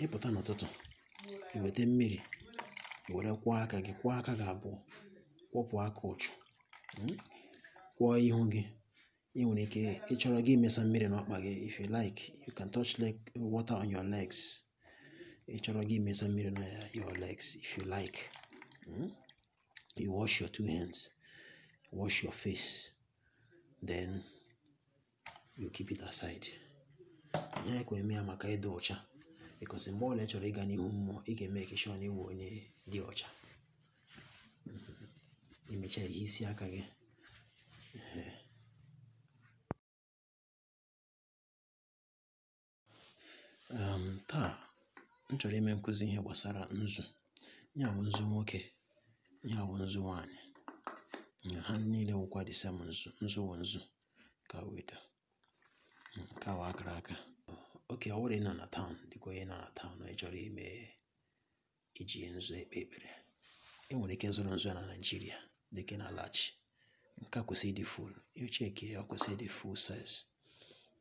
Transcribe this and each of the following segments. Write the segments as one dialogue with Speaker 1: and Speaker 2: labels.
Speaker 1: ị pụta n'ụtụtụ i weta mmiri were kwọọ aka gị kwọọ aka gị abụọ kwọpụ aka ụchụ mm, kwọọ ihu gị ị nwere ike ị chọrọ gị imesa mmiri n'ọkpa gị if you like you can touch water on your legs ị chọrọ gị imesa mmiri na your legs if you like mm, you wash your two hands wash your face then you keep it aside ihe anyị ka eme ya maka ịdị ọcha because mgbe ọbụla ị chọrọ ịga n'ihu mmụọ ị ga-make sure na ị wụ onye dị ọcha i mecha i hisie aka gị um taa m chọrọ ime nkụzi ihe gbasara nzu ihe a wụ nzu nwoke ihe a wụ nzu nwaanyị ha niile wụkwa the same nzu nzu wụ nzu ka weda ka wa akara aka okay ọ bụrụ ị nọ na town dịka onye nọ na town ị chọrọ ime iji nzu ekpe ekpere i nwere ike zụrụ nzu na Nigeria dịka na large nke a kwesịrị ịdị full i check ya ọ kwesịrị ịdị full size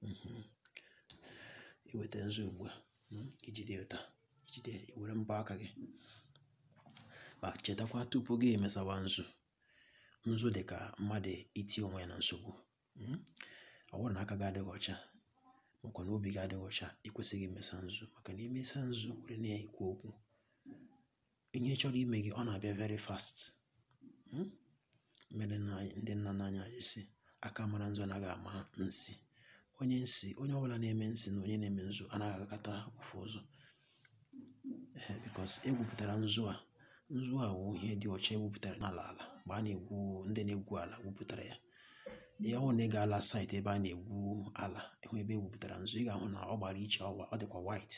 Speaker 1: mhm. i weta nzu ugbu a hmm, i jide otu a i jide i were mbọ aka gị ma chetakwa tupu gị emesawa nzu nzu dị ka mmadụ iti onwe ya na nsogbu hmm? ọ bụrụ na aka gị adịghị ọcha makwa na obi gị adịghị ọcha ị kwesịghị imesa nzu maka na i mesa nzu were na-ekwu okwu ihe chọrọ ime gị ọ na-abịa very fast hmm? mere ndị nna nna anyị ha ji sị aka mara nzu anaghị ama nsi onye nsi onye ọbụla na-eme nsi na onye na-eme nzu anaghị agakọta ofu ụzọ Ee, because e gwupụtara nzu a nzu a wụ ihe dị ọcha e gwupụtara n'ala ala mgbe a na-egwu ndị na-egwu ala gwupụtara ya ọ wụ na ị gaala site ebe a na-egwu ala ị hụ ebe e gwupụtara nzu ị ga-ahụ na ọ gbara iche ọ dịkwa white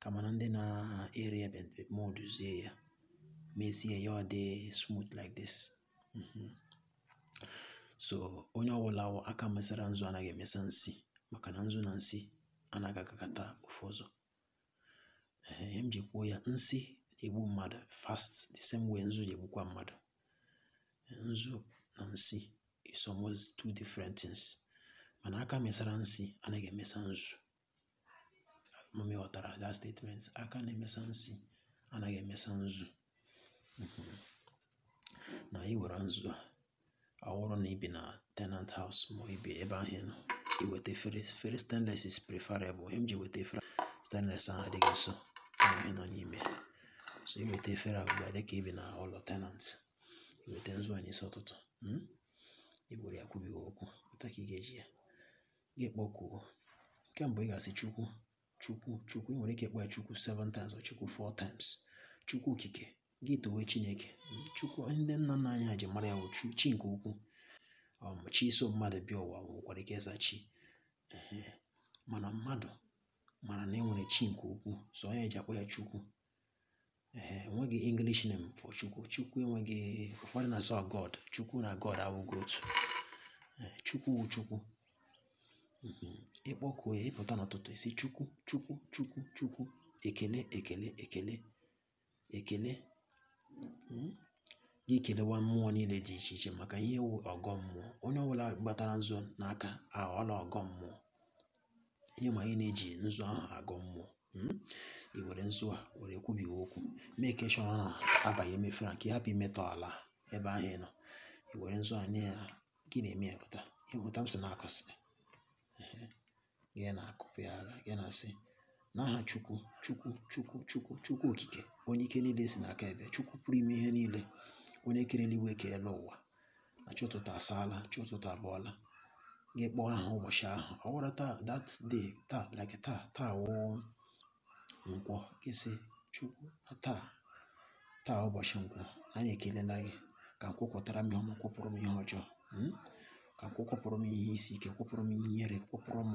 Speaker 1: kama na ndị na-ere ya moulduzie ya mezie ya ọ dị smooth like this mhm. so onye ọbụla aka mesara nzu anaghị emesa nsi maka na nzu na nsi anaghị agakọta ofu ụzọ ihe m ji kwuo ya nsi na-egbu mmadụ fast the same way nzu na-egbukwa mmadụ nzu na nsi is almost two different things mana aka mesara nsi anaghị emesa nzu ama m ị ghọtara that statement aka na-emesa nsi anaghị emesa nzu na ị were nzu a ọ bụrụ na i bi na tenant house ma ọ i bi ebe ahụ nọ i weta efere efere stainless is preferable ihe m ji weta efere stainless ahụ adịghị nso ihe nọ n'ime so i weta efere a ugbu a dịka i bi na ụlọ tenant i weta nzu a n'isi ụtụtụ hmm? i were ya kwubighị okwu otu a ka ị ga-eji ya gị kpọkuo nke mbụ ị ga-asị Chukwu chukwu chukwu ị nwere ike ịkpọ ya chukwu seven times or chukwu four times chukwu okike gị towe chineke chukwu ndị nna nna anyị ha ji mara ya bụ chu chi nke ukwu um, chi so mmadụ bịa ụwa nwekwara ike ịza chi Ehe. mana mmadụ mara na e nwere chi nke ukwu so ọ ya e ji akpọ ya chukwu ee enweghị english name for chukwu chukwu enweghị ụfọdụ na-asị ọ god chukwu na god awụghị otu Ee, chukwu wụ chukwu Mhm. ị kpọkuo ya ị pụta n'ụtụtụ ị sị chukwu chukwu chukwu chukwu ekele ekele ekele ekele Mm. gị kelewa mmụọ niile dị iche iche maka ihe wụ ọgọ mmụọ onye ọbụla gbatara nzu n'aka aghọọla ọgọ mmụọ ihe ma anyị na-eji nzu ahụ agọ mmụọ hmm? i were nzu a were kwubi okwu mee ka ịchọrọ na-aba gị n'ime efere ka ị hapụ imetọ ala ebe ahụ ị nọ i were nzu a nye ya gị na-eme ya otu a ị hụ otu m si na-akụsị gị na-akụpụ ya agha gị na-asị n'aha chukwu chukwu chukwu chukwu chukwu okike onye ike niile si n'aka abịa chukwu pụrụ ime ihe niile onye kere eluigwe keela ụwa na chi ụtụtụ asaala chi ụtụtụ abọọla gị kpọọ aha ụbọchị ahụ ọ wụrụ taa that day taa like taa taa wụ nkwọ gị sị chukwu na taa taa ụbọchị nkwọ anyị ekelela gị ka nkwọ kwọtara m ihe ọma kwọpụrụ m ihe ọjọọ mm? ka nkwọ kwọpụrụ m ihe isi ike kwọpụrụ m ihe ihere kwọpụrụ m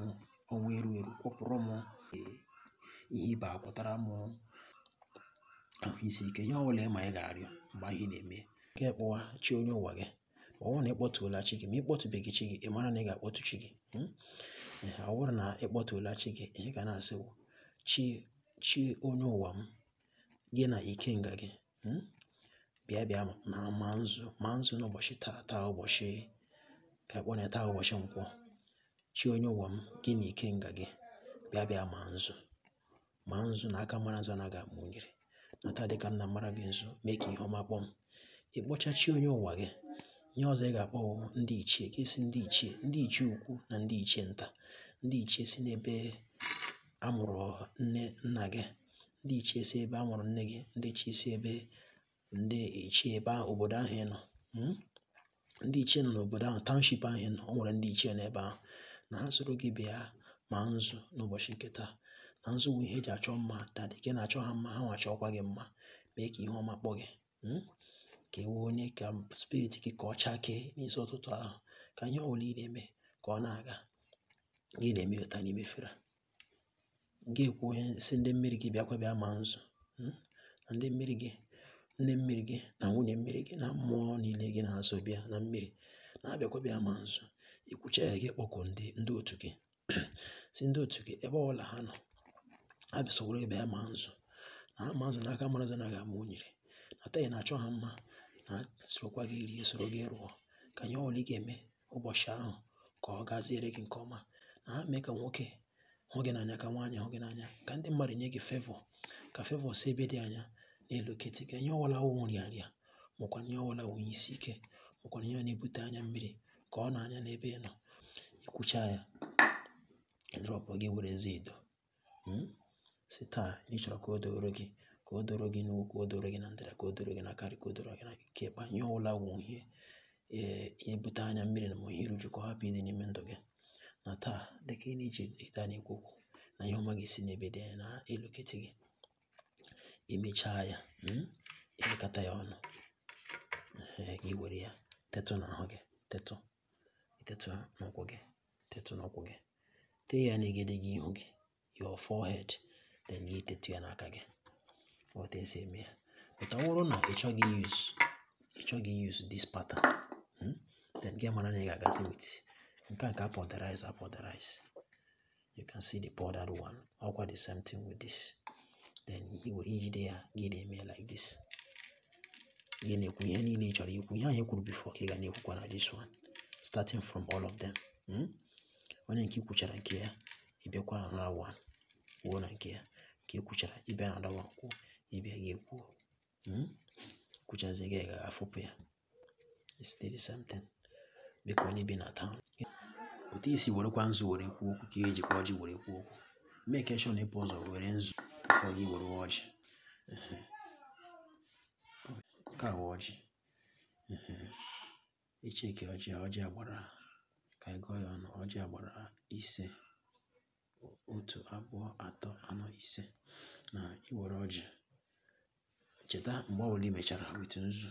Speaker 1: ọnwụ eru eru kwọpụrụ m eh, ihe ịba kwọtara m ahụ isi ike ihe ọbụla ị ma ị ga-arịọ mgbe ihe na-eme ka ị kpọwa chi onye ụwa gị ọ bụrụ na ị kpọtuola chi gị ma ị kpọtụbeghị chi gị ị mara na ị ga-akpọtụ chi gị hmm? ọ bụrụ na ị kpọtuola chi gị ihe ị ga na-asị bụ chi chi onye ụwa m gị na ikenga gị hmm? bịa bịa ma nzu ma nzu n'ụbọchị taa taa ụbọchị ka akpọ na taa ụbọchị nkwọ chi onye ụwa m gị na ikenga gị bịa bịa ma nzu ma nzu na aka mara nzu anaghị ama unyiri na taa dịka m na-amara gị nzu mee ka ihe ọma kpọọ m ị kpọcha chi onye ụwa gị ihe ọzọ ị ga-akpọ bụ ndị ichie ka ị sị ndị ichie ndị ichie ukwu na ndị ichie nta ndị ichie si n'ebe a mụrụ nne nna gị ndị ichie si ebe a mụrụ nne gị ndị ichie si ebe ndị ichie ebe ahụ obodo ahụ ị nọ hmm? ndị ichie nọ n'obodo ahụ township ahụ ị nọ o nwere ndị ichie n'ebe ahụ na ha soro gị bịa ma nzu n'ụbọchị nke taa na nzu bụ ihe eji achọ mma na dịka ị na-achọ ha mma ha nwa chọọkwa gị mma mee ka ihe ọma kpọọ gị hmm? ka ewe onye ka spirit gị ka ọ chakee n'isi ụtụtụ ahụ ka ihe ọbụla ị na-eme ka ọ na-aga gị na-eme otu a n'ime efere gị ekwu ihe si ndị mmiri gị bịakwa bịa ma nzu hmm? na ndị mmiri gị nne mmiri gị na nwunye mmiri gị na mmụọ niile gị na ha so bịa na mmiri na ha bịakwa bịa ma nzu ikwucha ya gị kpọkuo ndị ndị otu gị si ndị otu gị ebe ọbụla ha nọ ha bịa soro bịa ma nzu na ha ma nzu na aka mara nzu anaghị ama unyiri na taa ị na-achọ ha mma na ha sorokwa gị rie soro gị rụọ ka ihe ọbụla ị ga-eme ụbọchị ahụ ka ọ gaziere gị nke ọma na ha mee ka nwoke hụ gị n'anya ka nwaanyị hụ gị n'anya ka ndị mmadụ nye gị fevọ ka fevọ si ebe dị anya na-eloketi gị ihe ọwụla wụ nrịanrịa makwa ihe ọwụla wụ ihe isi ike makwa ihe na-ebute anya mmiri ka ọ nọọ anya n'ebe ị nọ ikwucha ya drọpụ gị werezie edo hmm? si taa ị chọrọ ka o doro gị ka o doro gị n'ugwu ka o doro gị na ndịda ka o doro gị n'aka nri ka o doro gị n'aka ịkpa ihe ọbụla wụ ihe eh, ihe bute anya mmiri na ma ihe iru uju ka ọ hapụ ịdị n'ime ndụ gị na taa dịka ị na-eji ịta na-ekwu okwu na ihe ọma ga-esi n'ebe dị anya na-eloketi gị imechaa ya hmm? elekọta ya ọnụ gị were ya tetụ n'ahụ gị tetụ tetụ n'ụkwụ gị tetụ n'ụkwụ gị tee ya n'egedege ihu gị your forehead then gị tetụ ya n'aka gị otu esi eme ya but ọ bụrụ na ị chọghị use ị chọghị use this pattern hmm, then gị mara na ị ga-agazi with nke a ka powderize powderize you can see the powdered one ọkwa the same thing with this then i were ijide ya gị na-eme like this gị na-ekwu ihe niile ị chọrọ ikwu ihe anyị kwuru before ka ị ga na-ekwukwa na this one starting from all of them hmm? onye nke ikwuchara nke ya ịbịakwa another one kwuo na nke ya nke ikwuchara ịbịa another one kwuo ịbịa gị ekwuo hmm? kwuchazie gị gaa fụpụ ya it's still the same thing dịka onye bi na town otu i si werekwa nzu were kwuo okwu ka eji kwa ọjị were kwuo okwu make sure na i bu ụzọ were nzu before gị were ọjị nke a wụ ọjị icheke ọjị ọjị a gbara ka anyị gụọ ya ọnụ ọjị a gbara ise otu abụọ atọ anọ ise na iwere ọjị cheta mgbe ọbụla i mechara with nzu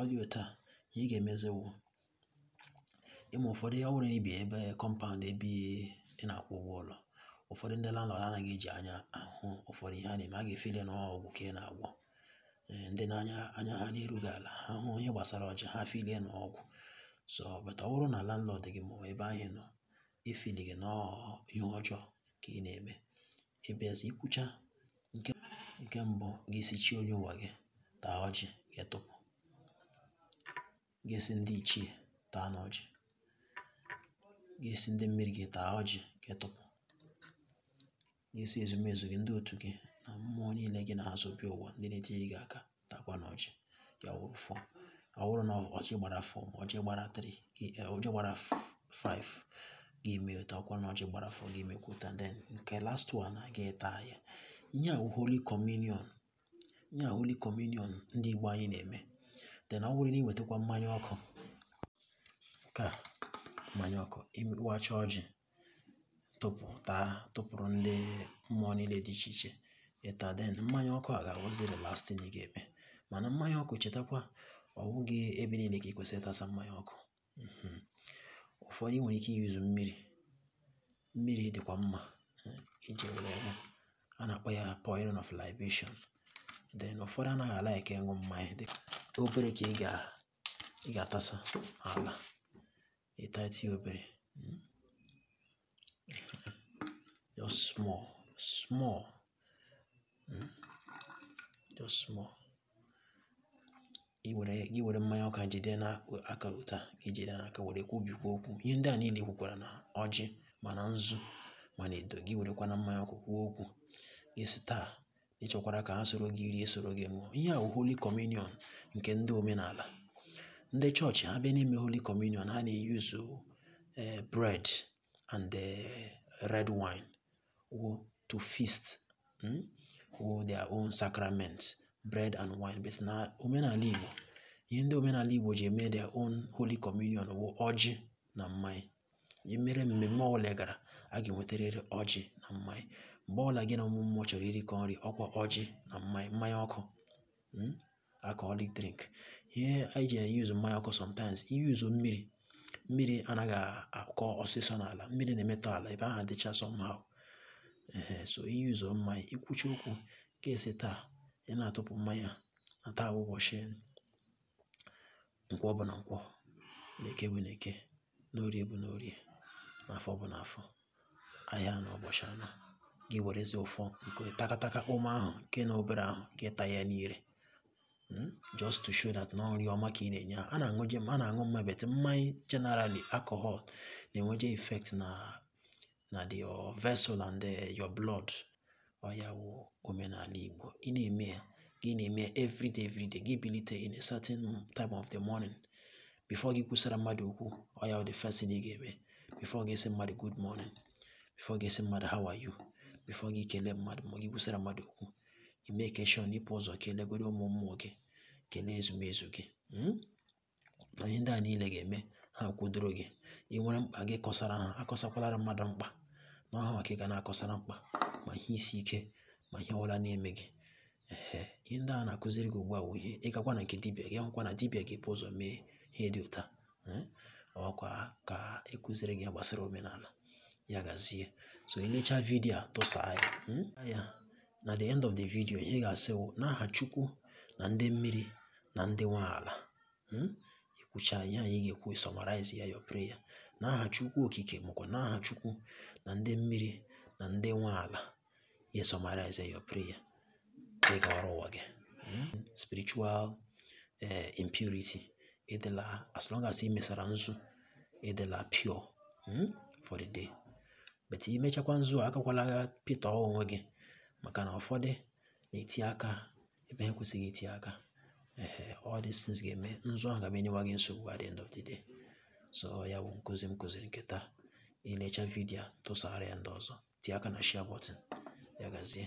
Speaker 1: ọ dị otu a ihe ị ga-emezi wụ ịma ụfọdụ ọ bụrụ na ibi ebe kọmpaụnd ebe ị na-akwụ ụgwọ ụlọ ụfọdụ ndị landlord anaghị eji anya ahụ ụfọdụ ihe a na-eme ha ga-efili na ọgwụ ka ị na-agwọ ee ndị anya ha na-erughị ala ha hụ ihe gbasara ọjị ha filie na ọgwụ so but ọ bụrụ na landlord gị ma ebe ahụ ị nọ efilighị na ihe ọjọọ ka ị na-eme ịbịazie kwucha nke nke mbụ gị asị chi onye ụwa gị taa ọjị gị atụpụ gị asị ndị ichie taa na ọjị gị asị ndị mmiri gị taa ọjị gị atụpụ gị asị ezumezu gị ndị otu gị na mmụọ niile gị na ha so bịa ụwa ndị na-etiri gị aka takwa na ọjị ya wụrụ four ọ wụrụ na ọjị gbara four ma ọjị gbara three ọjị gbara five gị eme otu a ọkwa na ọjị gbara four gị emekwa otu a then nke last one a gị ata ya ihe a wụ holy communion ihe a holy communion ndị igbo anyị na-eme then ọ wụrụ na i wetakwa mmanya ọkụ nke a mmanya ọkụ ị wacha ọjị tụpụta tụpụrụ ndị mmụọ niile dị iche iche ị taa then mmanya ọkụ a ga-awụzi the last thing ị ga-eme mana mmanya ọkụ chetakwa ọ bụghị ebe niile ka ị kwesịrị ịtasa mmanya ọkụ mhm. ụfọdụ i nwere ike iyuzu mmiri mmiri dịkwa mma eh, iji were ya a na-akpọ ya pouring of libation then ụfọdụ anaghị a-like ịwụ mmanya dịka obere ka ị ga-atasa ala ị tatụ obere hmm? just small small hmm? just small gị were mmanya ọkụ a jide n'aka otu a gị jide n'aka were kwubekwa okwu ihe ndị a niile i kwukwara na ọjị ma na nzu ma na edo gị werekwa na mmanya ọkụ kwuo okwu gị sị taa ị chọkwara ka ha soro gị rie soro gị ṅụọ ihe a wụ holy communion nke ndị omenala ndị chọọchị ha bịa n'ime holy communion ha na-eyuzu eh, bread and eh, red wine wụ to feast mm, wụ their own sacrament bread and wine but na omenala igbo ihe ndị omenala igbo ji eme their own holy communion wụ ọjị na mmanya ihe mere mmemme ọbụla ị gara a ga-enwetarịrị ọjị na mmanya mgbe ọbụla gị na ụmụ mmụọ chọrọ irikọ nri ọkwa ọjị na mmanya mmanya ọkụ mm, alcoholic drink ihe anyị ji eyuzu mmanya ọkụ sometimes iyuzu mmiri mmiri anaghị akọ ọsịsọ n'ala mmiri na-emetọ ala ebe ahụ adịcha somehow ehe so iyuzu mmanya i kwuchaa okwu gị asị taa ị na-atụpụ mmanya na taa wụ ụbọchị nkwọ bụ na nkwọ na eke bụ na eke na orie bụ na orie na afọ bụ na afọ ahịa anọ ụbọchị anọ gị werezi ụfọ nke takataka ụmụ ahụ nke na obere ahụ gị ata ya n'ire hmm? just to show that na ọ nri ọma ka ị na-enye ha na-aṅụje a na-aṅụ mma but mmanya generally alcohol na-enweje effect na na the your vessel and the, eh, your blood ọ ya wụ omenala Igbo ị na-eme ya gị na-eme everyday everyday gị bilite in a certain time of the morning before gị kwusara mmadụ okwu ọ ya wụ the first thing ị ga-eme before gị sị mmadụ good morning before gị sị mmadụ how are you before gị kelee mmadụ ma gị kwusara mmadụ okwu ị make sure na ị bu ụzọ kelegoro ụmụ mmụọ gị kelee ezumezu gị hmm? na ihe ndị a niile ga-eme ha kwudoro gị ị nwere mkpa gị kọsara ha akọsakwalara mmadụ mkpa na ọ hanwa ka ị ga na-akọsara mkpa ma ihe isi ike ma ihe ọbụla na-eme gị ehe ihe ndị a na-akụziri gị ugbu a bụ ihe ị gakwa na nke dibịa gị hụkwa na dibịa ga-ebu ụzọ mee ihe dị otu a eh, ọkwa ka a kụziri gị gbasara omenala ya gazie so i lecha vidio a tụsaa ya hmm? ya na the end of the video ihe ị ga-asị wụ n'aha chukwu na ndị mmiri na ndị nwe ala hmm? i kwucha ihe anyị ga-ekwu summarize ya your prayer n'aha chukwu okike makwa n'aha chukwu na ndị mmiri na ndị nwe ala ya summarize your prayer ị gawara ụwa gị hmm? spiritual eh, impurity ị dịla as long as ị mesara nzu ị dịla pure hmm? for the day but i mechakwa nzu a agakwala ga pịtọ onwe gị maka na ụfọdụ na-eti aka ebe ha kwesịghị iti aka ehe all these things ga-eme nzu ahụ ga-abịa enyewa gị nsogbu at the end of the day so ya bụ nkụzi m kụziri nke taa i lecha vidiyo a, tụsara ya ndị ọzọ tie aka na share button ya gazie